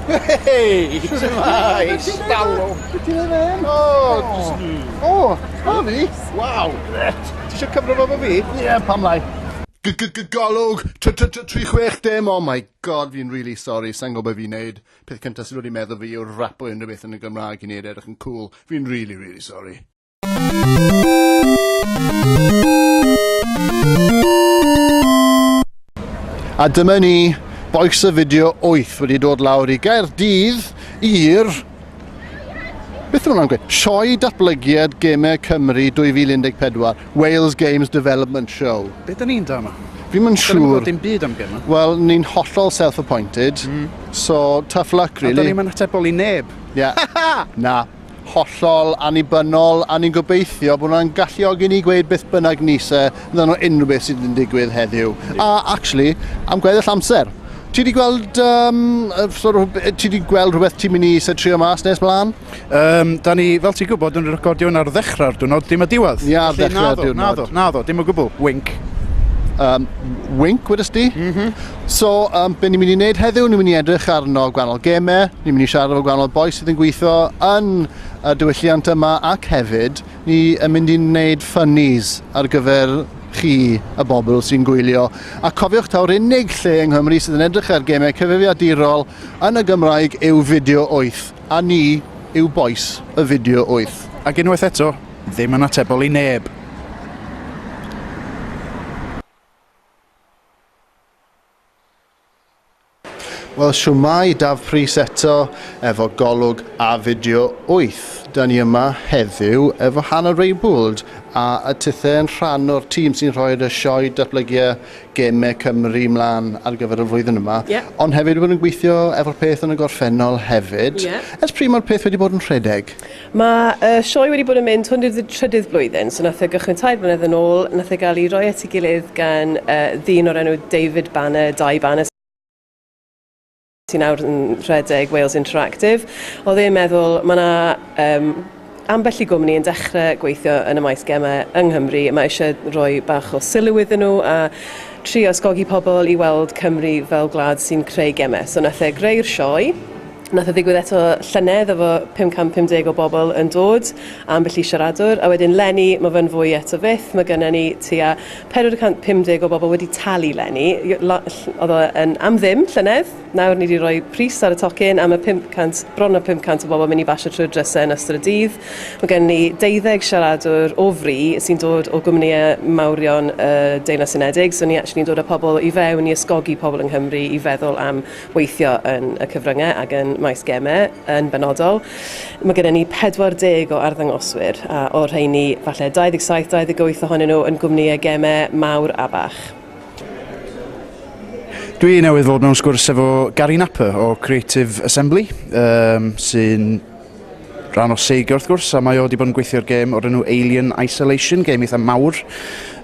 Hei! Shwmae! Stalw! Be ti'n ei fe? O! O! O! fi? Waw! Gret! Ti eisiau cymryd fo fi? Ie, pam lai. Golwg 360, oh my god, fi'n really sorry, sa'n gwybod fi'n neud. Peth cyntaf sydd wedi meddwl fi yw'r rapo unrhyw beth yn y Gymraeg i neud edrych yn cool. Fi'n really, really sorry. A dyma ni, boes y fideo 8 wedi dod lawr i Gaerdydd i'r... Beth yw'n gweud? Sioe Datblygiad Gemau Cymru 2014, Wales Games Development Show. Be da ni'n da yma? Fi'n mynd siŵr... Dim byd am gemau. Wel, ni'n hollol self-appointed, mm. so tough luck, really. A da ni'n mynd atebol i neb. Yeah. Na. Hollol annibynnol, a ni'n gobeithio bod hwnna'n galluogi ni gweud beth bynnag ni isie amdano unrhyw beth sydd yn digwydd heddiw. A actually, am gweddill amser, ti wedi gweld, um, sort of, ti wedi gweld rhywbeth ti'n mynd i isie trio mas nes mlaen? Um, da ni, fel ti'n gwybod, yn recordio yn ar ddechrau'r diwrnod, dim y diwedd. Ni ar ddechrau'r diwrnod. Naddo, naddo, dim o gwbl, wink. Um, wink, wedys di? Mm -hmm. So, um, be ni'n mynd i wneud heddiw, ni'n mynd i edrych arno gwahanol gemau, ni'n mynd i siarad efo gwahanol boes sydd yn gweithio yn y diwylliant yma ac hefyd ni yn mynd i wneud funnies ar gyfer chi, y bobl sy'n gwylio. A cofiwch taw'r unig lle yng Nghymru sydd yn edrych ar gemau cyfrifiadurol yn y Gymraeg yw Fideo 8, a ni yw boes y Fideo 8. Ac unwaith eto, ddim yn atebol i neb. Wel shwmae, Daf Prys eto efo Golwg a Fideo 8. Da ni yma heddiw efo Hannah Raybould a y Tithe yn rhan o'r tîm sy'n rhoi'r y sioe datblygu Gemau Cymru mlaen ar gyfer y flwyddyn yma. Ie. Ond hefyd wedi bod yn gweithio efo'r peth yn y gorffennol hefyd. Ie. Ers pryd mae'r peth wedi bod yn rhedeg? Mae y sioe wedi bod yn mynd hwn i'r trydydd blwyddyn, so nath e gychwyn tair blynedd yn ôl, nath e gael ei roi at ei gilydd gan yy ddyn o'r enw David Banner, Dai Banner, sy'n nawr yn rhedeg Wales Interactive, oedd e'n meddwl ma' 'na yym ambell i gwmni yn dechre gweithio yn y maes geme yng Nghymru, mae isie rhoi bach o sylw iddyn nhw a trio ysgogi pobl i weld Cymru fel gwlad sy'n creu geme, so nath e greu'r sioe. Nath e ddigwydd eto llynedd efo 550 o bobl yn dod, ambell i siaradwr, a wedyn leni ma fe'n fwy eto fyth, ma gynna ni tua 450 o bobl wedi talu leni, odd o yn am ddim llynedd, nawr ni di roi pris ar y tocyn a ma 500, bron a 500 o bobl yn mynd i basio trwy'r dryse yn ystod y dydd, ma gynna ni deuddeg siaradwr o fri sy'n dod o gwmnïe mawrion y Deyrnas Unedig, so ni actually'n dod a pobl i fewn i ysgogi pobl yng Nghymru i feddwl am weithio yn y cyfryngau ac yn maes gemau yn benodol. Mae gennym ni 40 o arddangoswyr a o'r rheini falle 27-28 ohonyn nhw yn gwmnïau gemau mawr a bach. Dwi newydd fod mewn sgwrs efo Gary Napper o Creative Assembly, um, sy'n rhan o Sega wrth gwrs, a mae o wedi bod yn gweithio'r gêm o'r enw Alien Isolation, gêm eitha mawr,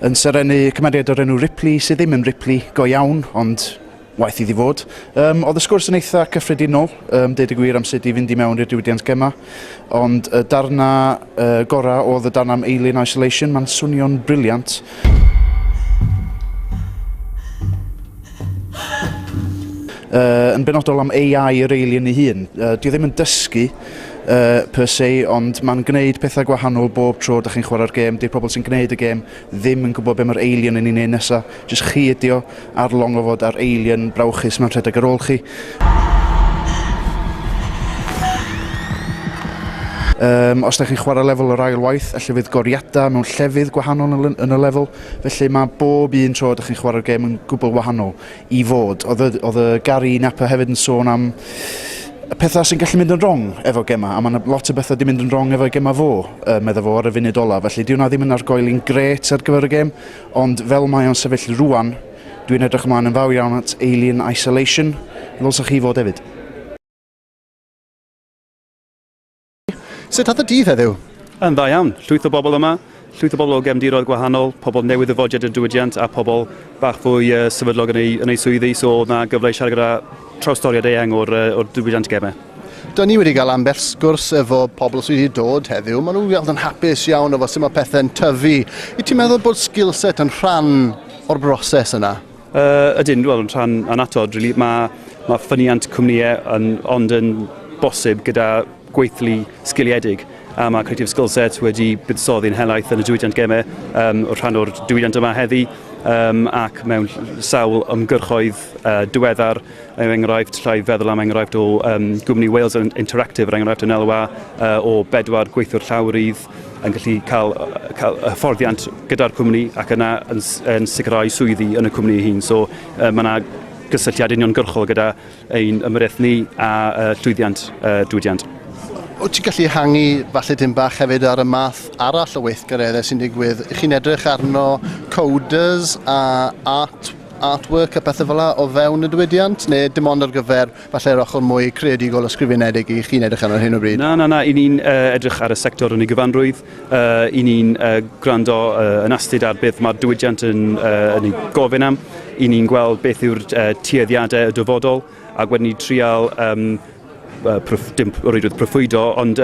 yn serennu cymeriad o'r enw Ripley, sydd ddim yn Ripley go iawn, ond Waeth iddi fod. Um, oedd y sgwrs yn eitha cyffredinol, um, deud y gwir am sut i fynd i mewn i'r diwydiant gema, ond y darna uh, gorau oedd y darna am Alien Isolation, mae'n swnio'n briliant. Uh, yn benodol am AI yr alien ei hun. Uh, di ddim yn dysgu uh, per se, ond mae'n gwneud pethau gwahanol bob tro ydych chi'n chwarae'r gêm. Di'r pobl sy'n gwneud y gêm ddim yn gwybod beth mae'r alien yn ei wneud nesaf. Jyst chi ydi o, ar long o fod ar alien brawchus mewn rhedeg ar ôl chi. Um, os da chi'n chwarae lefel yr ail waith, allu fydd goriadau mewn llefydd gwahanol yn y lefel, felly mae bob un tro ydych chi'n chwarae'r gêm yn gwbl wahanol i fod. Oedd y Gary Napper hefyd yn sôn am y pethau sy'n gallu mynd yn wrong efo gemau, a mae lot o bethau wedi mynd yn wrong efo gemau fo, uh, meddwl fo ar y funud olaf, felly diwna ddim yn argoeli'n gret ar gyfer y gêm, Ond fel mae o'n sefyll rŵan, dwi'n edrych ymlaen yn fawr iawn at Alien Isolation, ddylsech chi fod hefyd. Sut oedd y dydd heddiw? Yn dda iawn, llwyth o bobl yma, llwyth o bobl o gefndiroedd gwahanol, pobl newydd ddyfodiad i'r diwydiant a pobl bach fwy yy sefydlog yn eu yn eu swyddi, so oedd 'na gyfle i siarad gyda trawstoriad eang o'r, uh, o'r diwydiant gemau. Dyn ni wedi cael ambell sgwrs efo pobl sydd wedi dod heddiw. Maen nhw'n weld yn hapus iawn efo sut mae pethau'n tyfu. I ti'n meddwl bod skillset yn rhan o'r broses yna? Uh, ydyn, wel, yn rhan anatod, really. Mae, mae ffyniant cwmnïau yn, ond yn bosib gyda gweithlu sgiliedig a mae Creative Skillset wedi buddsoddi'n helaeth yn y diwydiant gemau um, o'r rhan o'r diwydiant yma heddi um, ac mewn sawl ymgyrchoedd uh, diweddar er enghraifft llai feddwl am enghraifft o um, gwmni Wales Interactive er enghraifft yn elwa uh, o bedwar gweithwyr llawrydd yn gallu cael, cael hyfforddiant gyda'r cwmni ac yna yn, yn sicrhau swyddi yn y cwmni hyn. So uh, mae yna gysylltiad uniongyrchol gyda ein ymyrraeth ni a llwyddiant y diwydiant. Wyt ti'n gallu hangi falle dim bach hefyd ar y math arall o weithgareddau sy'n digwydd? Ych chi'n edrych arno coders a art, artwork a pethau fel o fewn y diwydiant? Neu dim ond ar gyfer falle'r ochr mwy creadigol ysgrifenedig i chi'n edrych arno hyn o bryd? Na, na, na. I ni'n uh, edrych ar y sector yn ei gyfanrwydd. Y'n ni'n gwrando yn astud ar beth mae'r diwydiant yn ei gofyn am, y'n ni'n gweld beth yw'r tueddiadau y dyfodol ac wedyn ni'n trial, dim o reidrwydd proffwydo, ond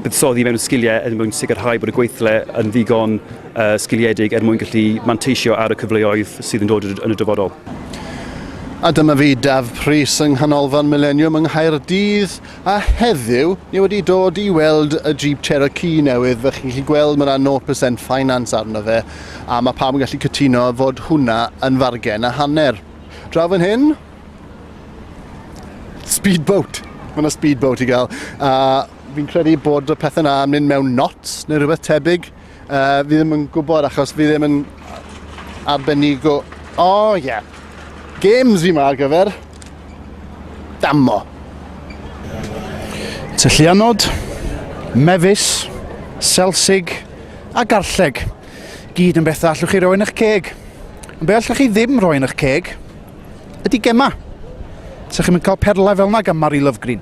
buddsoddi mewn sgiliau er mwyn sicrhau bod y gweithle yn ddigon sgiliedig er mwyn gallu manteisio ar y cyfleoedd sydd yn dod yn y dyfodol. A dyma fi, Dafydd Prys, yng Nghanolfan Mileniwm yng Nghaerdydd. A heddiw, ni wedi dod i weld y Jeep Cherokee newydd, fel chi'n gallu gweld mae yna 0% finance arno fe, a mae pawb yn gallu cytuno fod hwnna yn fargen a hanner. Draw fan hyn, speedboat! Mae yna speedboat i gael, a fi'n credu bod y pethau yna yn mynd mewn knots neu rhywbeth tebyg. Uh, fi ddim yn gwybod achos fi ddim yn arbenigo. O, oh, ie. Yeah. Games fi ma ar gyfer. Dammo. Tyllianod, mefus, selsig a garlleg. Gyd yn bethau allwch chi roi yn eich ceg. Ond be allwch chi ddim roi yn eich ceg ydy gemau. Sa'ch chi'n cael perlau fel yna gan Mari Lovegreen.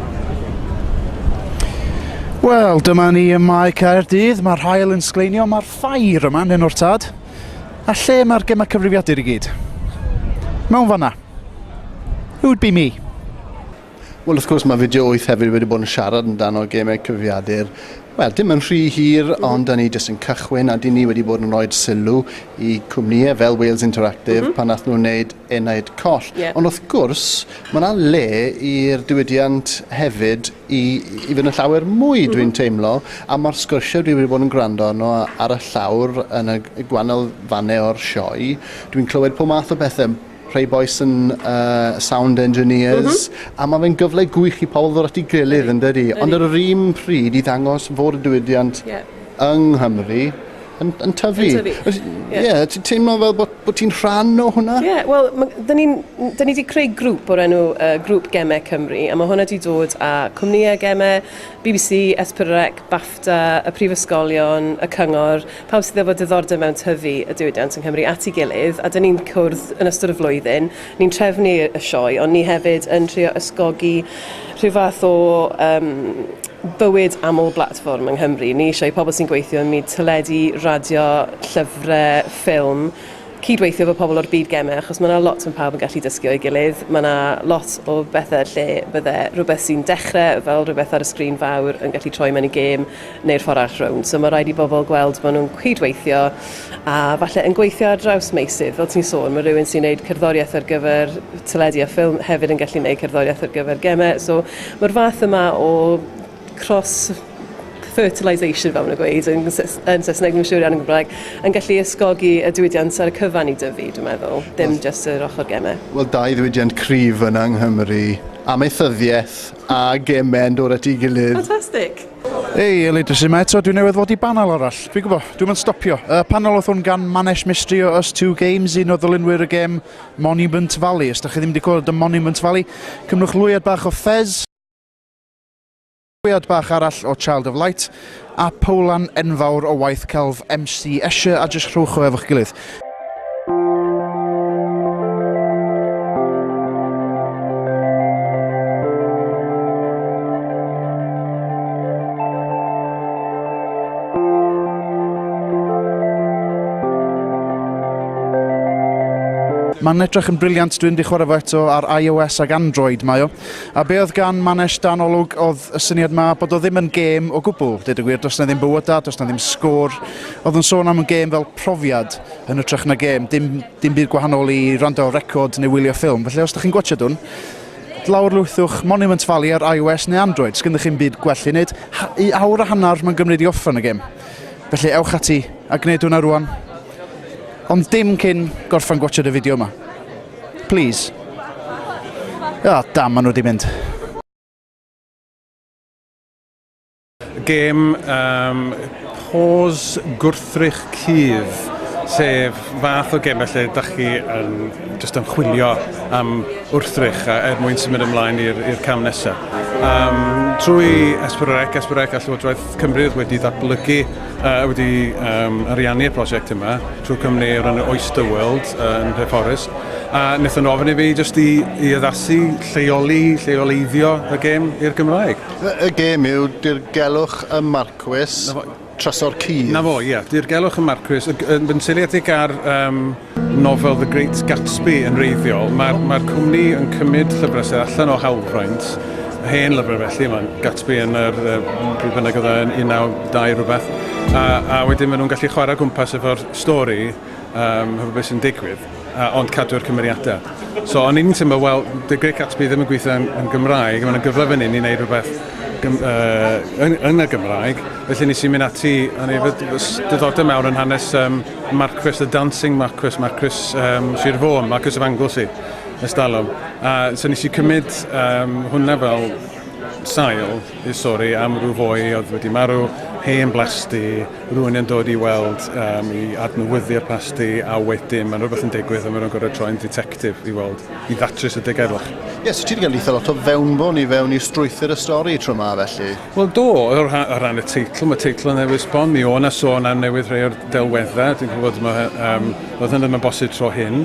Wel, dyma ni ym Mae Caerdydd, mae'r hael yn sgleinio, mae'r ffair yma yn o'r tad. A lle mae'r gemau cyfrifiadur i gyd? Mewn fanna. Who would be me? Wel, wrth gwrs, mae fideo 8 hefyd wedi bod yn siarad amdano gemau cyfrifiadur. Wel, dim yn rhy hir, ond da ni jyst yn cychwyn, a dyn ni wedi bod yn rhoi sylw i cwmnïau fel Wales Interactive mm -hmm. pan nath nhw'n wneud Enaid Coll. Yeah. Ond wrth gwrs, Mae yna le i'r diwydiant hefyd i i fynd yn llawer mwy, dwi'n teimlo, a mae'r sgyrsiau dwi wedi bod yn gwrando arno ar y llawr yn y y gwahanol fannau o'r sioe, dwi'n clywed pob math o bethe, rhai bois yn uh, sound engineers, a mae fe'n gyfle gwych i pobl ddod at ei gilydd, yndydi? Ond ar yr un pryd i ddangos fod y diwydiant Ie. yng Nghymru yn, yn tyfu. Yn tyfu. Ie, yeah. yeah, ti'n teimlo fel bod, bod ti'n rhan o hwnna? Ie, yeah, wel, da ni wedi creu grŵp o'r enw uh, Grŵp Gemau Cymru, a mae hwnna wedi dod â cwmnïau gemau, BBC, Esbyrrec, BAFTA, y prifysgolion, y cyngor, pawb sydd efo diddordeb mewn tyfu y diwydiant yng Nghymru at ei gilydd, a da ni'n cwrdd yn ystod y flwyddyn, Ni'n trefnu y sioe, ond ni hefyd yn trio ysgogi rhyw fath o um, bywyd aml blatfform yng Nghymru. Ni eisiau i pobl sy'n gweithio ym myd teledu, radio, llyfrau, ffilm, cydweithio efo pobl o'r byd gemau, achos mae yna lot yn pawb yn gallu dysgu o'i gilydd. Mae yna lot o bethau lle bydde rhywbeth sy'n dechrau fel rhywbeth ar y sgrin fawr yn gallu troi mewn i gêm, neu'r ffordd arall rownd. So mae rhaid i bobl gweld bod nhw'n cydweithio a falle yn gweithio ar draws meysydd. Fel ti'n sôn, mae rhywun sy'n gwneud cerddoriaeth ar gyfer teledu a ffilm hefyd yn gallu gwneud cerddoriaeth ar gyfer gemau. So mae'r fath yma o cross fertilisation fel maen nhw'n gweud yn, yn Saesneg, ddim yn siŵr iawn yn Gymraeg, yn gallu ysgogi y diwydiant ar y cyfan i dyfu, dwi'n meddwl, dim jyst yr ochr gemau. Wel, dau ddiwydiant cryf yna yng Nghymru, amaethyddiaeth a gemau'n dod at ei gilydd. Fantastic! Hei, Elid, sy'n mae eto, dwi newydd fod i banel arall. Fi'n gwybod, dwi'n mynd stopio. Y panel oedd hwn gan Manesh Mistry o Us Two Games, un o ddylunwyr y gem Monument Valley. Os da chi ddim wedi clywed y Monument Valley, cymrwch lwyad bach o Fez, lwyad bach arall o Child of Light, A powlan enfawr o waith celf MC Escher a jyst rhowch o efo'ch gilydd. Mae'n edrych yn briliant, dwi'n di chwarae fo eto ar iOS ac Android mae o. A be oedd gan Manesh dan olwg oedd y syniad ma bod o ddim yn gêm o gwbl, dweud y gwir, does na ddim bywydau, does na ddim sgôr. Oedd yn sôn am y gêm fel profiad yn ytrach na gêm, dim, dim byd gwahanol i rando ar record neu wylio ffilm. Felly os da chi'n gwachod hwn, lawr lwythwch Monument Valley ar iOS neu Android, sgyn ddech chi'n byd gwell i wneud. I awr a hanner mae'n gymryd i offer yn y gêm. Felly ewch ati a gwneud hwnna rwan. Ond dim cyn gorffan gwatshad y fideo yma. Please. Ah, dam, maen nhw wedi mynd. gêm um, pos gwrthrych cudd, sef fath o gêm felly da chi yn just yn chwilio am wrthrych a er mwyn symud ymlaen i'r cam nesaf. Um, trwy Esbyrrec, Esbyrrec a Llywodraeth Cymru wedi ddatblygu Yy wedi yym ariannu'r prosiect yma trwy cwmni o'r enw Oyster World yy yn Nhre Forest a nethon nhw ofyn i fi jyst i i addasu, lleoli, lleoleiddio y gêm i'r Gymraeg. Y y gêm yw dirgelwch y marcwys... 'na fo... trysor cudd. 'Na fo ie, dirgelwch y marcwys y g- yn yn seiliedig ar yym nofel The Great Gatsby yn wreiddiol. Mae'r mae cwmni yn cymryd llyfrau sydd allan o hawlfraint, hen lyfrau felly, mae'n Gatsby yn yr, pryd bynnag oedd yn 1902 rhywbeth, a, a wedyn maen nhw'n gallu chwarae gwmpas efo'r stori, um, hefo beth sy'n digwydd, a, ond cadw'r cymeriadau. So, o'n i'n teimlo, wel, The Great Gatsby ddim yn gweithio yn, yn Gymraeg, mae'n gyfle fan hyn i wneud rhywbeth gym, uh, yn, yn y Gymraeg, felly nes i mynd ati, o'n i efo diddordeb mewn yn hanes um, Marquess the Dancing Marquess, Marquess um, Sir Fôn, Marquess of Anglesey, ers dalwm. A so nes i cymryd um, hwnna fel sail i sori am rhyw fwy oedd wedi marw, hen blasti, rhywun yn dod i weld um, i adnewyddu'r plasti a wedyn mae'n rhywbeth yn digwydd a mae'n rhywun gorau troi'n detective i weld, i ddatrys y degerwch. Ie, yes, so ti wedi cael eitha lot o fewnbwn i fewn i strwythyr y stori tro yma felly? Wel do, o rhan, o ran y teitl, mae teitl yn newid sbon, mi o' na sôn am newid rhai o'r delweddau, dwi'n gwybod mae, um, oedd hyn ddim yn bosib tro hyn,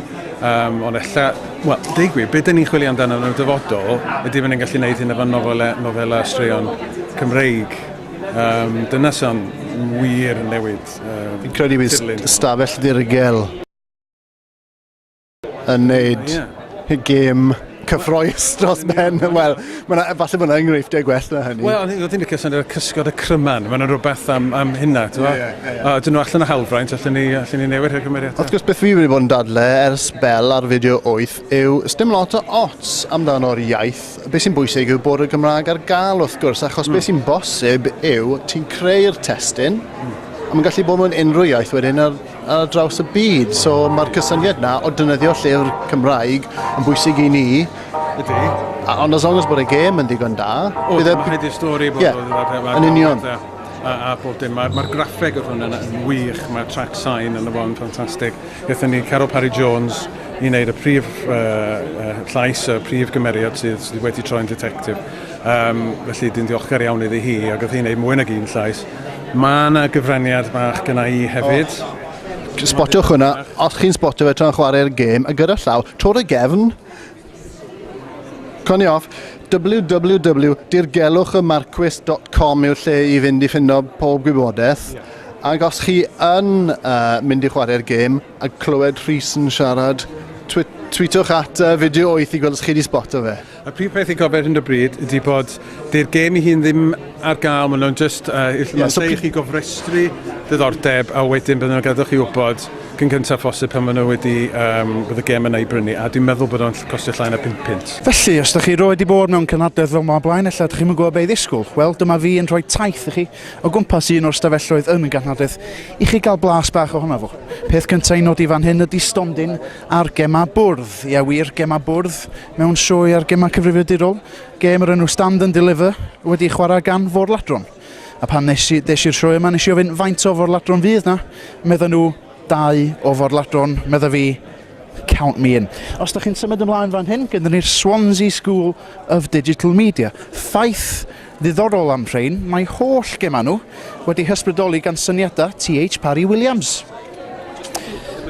um, ond ella, wel, dweud gwir, beth dyn ni'n chwilio amdano yn y dyfodol, ydy fy ni'n gallu gwneud hyn efo nofelau, nofelau straeon Cymreig. Um, dyna sy'n wir newid. Um, Fi'n credu bydd stafell ddirgel yn neud oh, yeah. gêm cyffroes dros ben. Wel, falle bod yna enghreifftiau gwell na hynny. Wel, o'n i'n licio syniad o'r cysgod y cryman. Mae'n rhywbeth am, am hynna, ti'n yeah, yeah, yeah. A dyn nhw allan o hawlfraint, allan ni, allan ni newid rhywbeth cymeriad. Wrth gwrs, beth fi wedi bod yn dadle ers bel ar fideo 8 yw stym lot o ots amdano'r iaith. Be sy'n bwysig yw bod y Gymraeg ar gael, wrth gwrs, achos mm. be hmm. sy'n bosib yw ti'n creu'r testyn, mm. a mae'n gallu bod mewn unrhyw iaith wedyn, ar draws y byd. So mae'r cysyniad na o dynyddio llyfr Cymraeg yn bwysig i ni. Ydy. A, ond as long as bod y gêm yn ddigon da... O, bydd e- mae rhaid i'r stori bod yeah, o... Yn union. A, a, a bob dim. Mae'r ma graffeg o hwn yn, yn wych, mae'r track sign yn y fo'n ffantastig. Gathen ni Carol Parry Jones i wneud y prif uh, uh, llais, y prif gymeriad sydd, sydd wedi troi'n detective. Um, felly, dwi'n ddiolchgar iawn iddi hi, ac oedd hi'n gwneud mwy nag un llais. Mae 'na gyfraniad bach gynna i hefyd. Spotiwch hwnna, os chi'n spotio fe tra'n chwarae'r gêm, a gyda llaw, tro'r y gefn. Coni off, www.dirgelwchymarcwys.com yw'r lle i fynd i ffindo pob gwybodaeth. Ac os chi yn uh, mynd i chwarae'r gêm a clywed Rhys yn siarad, twi tweetwch at uh, fideo 8 i gweld os chi wedi sboto fe. Y prif peth i gofio ar hyn o bryd ydy bod 'di'r gêm i hun ddim ar gael, maen nhw'n just, uh, yeah, maen so i chi gofrestru ddiddordeb a wedyn bydden nhw'n gadw chi wybod cyn cyntaf phosib pan maen nhw wedi, um, bod y gêm yna i brynu, a dwi'n meddwl bod o'n costio llai na 5 pint. Felly, os da chi roed i bod mewn cynhadledd fel ma blaen, ella ydych chi'n yn gwybod beth ddisgwyl. Wel, dyma fi yn rhoi taith i chi o gwmpas un o'r stafelloedd yn y ganhadledd i chi gael blas bach ohono fo. Peth cyntaf i nodi fan hyn ydy stondin a'r gemau bwrdd. Ie wir, gemau bwrdd. Mewn sioe ar gemau cyfrifiadurol, gêm o'r enw Stand and Deliver wedi ei chwarae gan forladron. A pan nes i, des i'r sioe yma, nes i ofyn faint o forladron fydd na, medda nhw, dau o forladron, medda fi, count me in. Os da chi'n symud ymlaen fan hyn, gyda ni'r Swansea School of Digital Media. Ffaith Ddiddorol am rhein, mae holl gemau nhw wedi hysbrydoli gan syniadau TH Parry Williams.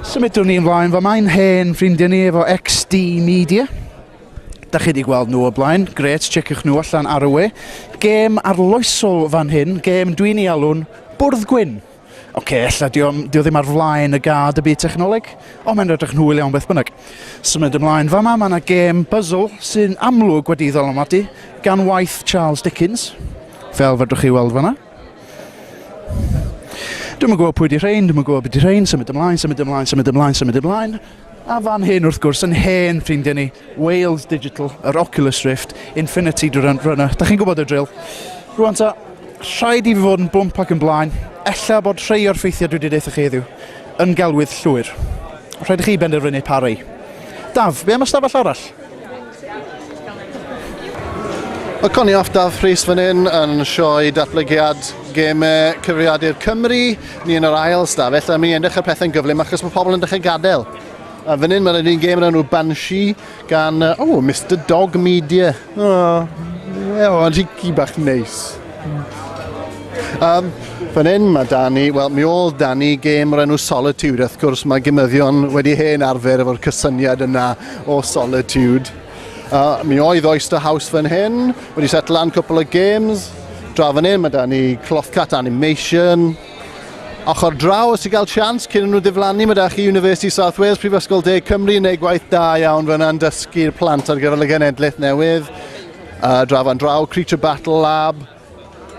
Symudwn ni ymlaen, fo mae'n hen ffrindiau ni efo XD Media. Da chi wedi gweld nhw o blaen, gret, checiwch nhw allan ar y we. Gêm arloesol fan hyn, gêm dwi'n ei alw'n Bwrdd Gwyn. Ok, ella di o, di o ddim ar flaen y gad y byd technoleg, ond mae'n rhedrych yn hwyl iawn beth bynnag. Symud ymlaen fama, mae yna gêm puzzle sy'n amlwg wedi ei ddylanwadu gan waith Charles Dickens, fel fedrwch chi weld fanna. Dwi'n yn gwybod pwy di rhain, dwi'n yn gwybod beth di rhain, symud ymlaen, symud ymlaen, symud ymlaen, symud ymlaen. A fan hyn, wrth gwrs, yn hen ffrindiau ni, Wales Digital, yr Oculus Rift, Infinity Drone Runner. Da chi'n gwybod y drill. Rwan ta, rhaid i fi fod yn blwmp ac yn blaen, ella bod rhai o'r ffeithiau dwi wedi deitha chi heddiw yn gelwydd llwyr. Rhaid i chi benderfynu pa rei. Daf, be am ystafell arall? Mae Connie Ofdaf Rhys fan hyn yn sioe datblygiad gemau cyfrifiadur Cymru. Ni yn yr ail stafell, a mi yn dechrau pethau'n gyflym achos mae pobl yn dechrau gadael. A fan hyn mae'n un gêm yn enw Banshee gan, o, oh, Mr Dog Media. O, oh, oh, ond hici bach neis. Um, fan hyn mae Dani, wel mi ôl Dani gêm o'r enw Solitude, wrth gwrs mae gymyddion wedi hen arfer efo'r cysyniad yna o Solitude. Uh, mi oedd Oyster House fan hyn, wedi set lan cwpl o games. Draw fan hyn, mae da ni Clothcat Animation. Ochr draw, os ti'n cael sians, cyn nhw ddiflannu, mae da chi University South Wales, Prifysgol De Cymru, yn neud gwaith da iawn fan yna'n dysgu'r plant ar gyfer y genedlaeth newydd. Uh, draw fan draw, Creature Battle Lab,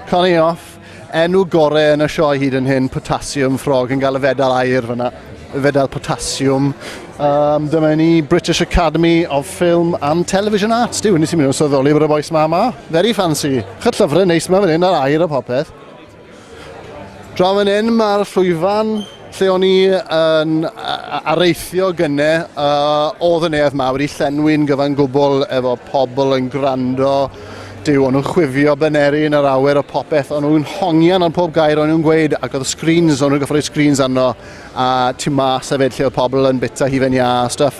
Connie off. Enw gore yn y sioe hyd yn hyn, Potassium Frog, yn cael y fedal air fyna, y fedal Potassium. Um, dyma ni British Academy of Film and Television Arts. Diw, nes i mynd o'n sylweddoli bod y boes ma ma. Very fancy. Chyt llyfrau neis ma fan hyn ar air a popeth. Draw fan hyn mae'r llwyfan Lle o'n i yn areithio gynne, oedd y neuadd mawr i llenwi'n gyfan gwbl efo pobl yn gwrando, Duw, o'n nhw'n chwifio baneri yn yr awyr a popeth, o'n nhw'n hongian ar pob gair o'n nhw'n gweud, ac oedd y screens, o'n nhw'n gorfod rhoi screens arno, a tu mas hefyd lle oedd pobl yn bita hufen iâ a stwff.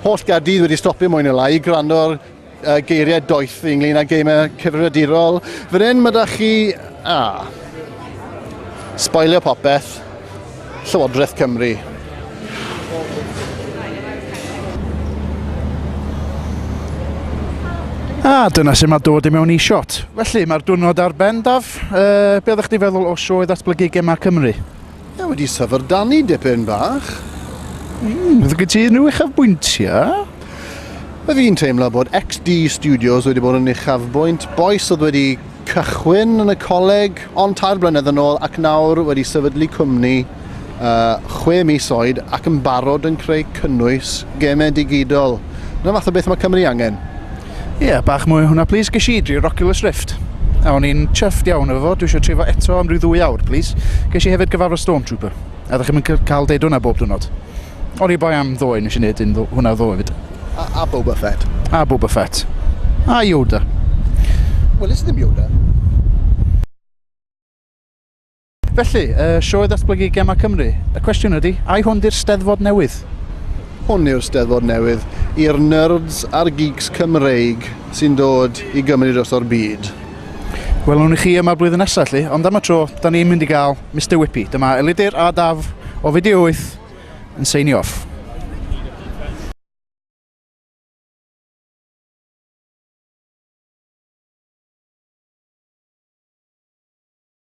Holl Gaerdydd wedi stopio mwy neu lai i gwrando ar uh, geiriau doeth ynglyn â geimau cyfrifiadurol. Fan hyn, mae da chi... A. Spoilio popeth. Llywodraeth Cymru. A dyna sy'n mae dod i mewn i shot. Felly, mae'r diwrnod ar ben, Daf. Uh, be oeddech chdi feddwl o sioe ddatblygu gemau Cymru? Mae wedi syfrdanu dipyn bach. Mm, fydd gen ti unrhyw uchafbwyntiau? Mae fi'n teimlo bod XD Studios wedi bod yn uchafbwynt bois oedd wedi cychwyn yn y coleg ond tair blynedd yn ôl ac nawr wedi sefydlu cwmni uh, chwe mis oed ac yn barod yn creu cynnwys gemau digidol. Dyna fath o beth mae Cymru angen. Ie, bach mwy o hwnna plis. Ges i dri'r Oculus Rift a o'n i'n chuffed iawn efo fo, dwi eisiau trefo eto am ryw ddwy awr plis. Ges i hefyd gyfarfod Stormtrooper a ydych chi'm yn cael deud hwnna bob diwrnod? O'n i boi am ddoe, nes i wneud un ddo, hwnna ddoe fyd. A, a Boba Fett. A Boba Fett. A Yoda. Wel, is ddim Yoda. Felly, y Sioe Ddatblygu Gemau Cymru, y cwestiwn ydy, ai hwn 'di'r Steddfod newydd? Hwn yw'r Steddfod newydd i'r nyrds a'r geeks Cymreig sy'n dod i Gymru droso'r byd. Welwn ni chi yma blwyddyn nesa, 'lly, ond am y tro, 'dan ni'n mynd i gael Mister Whippy. Dyma Elidir a Daf o Fideo Wyth yn seinio off.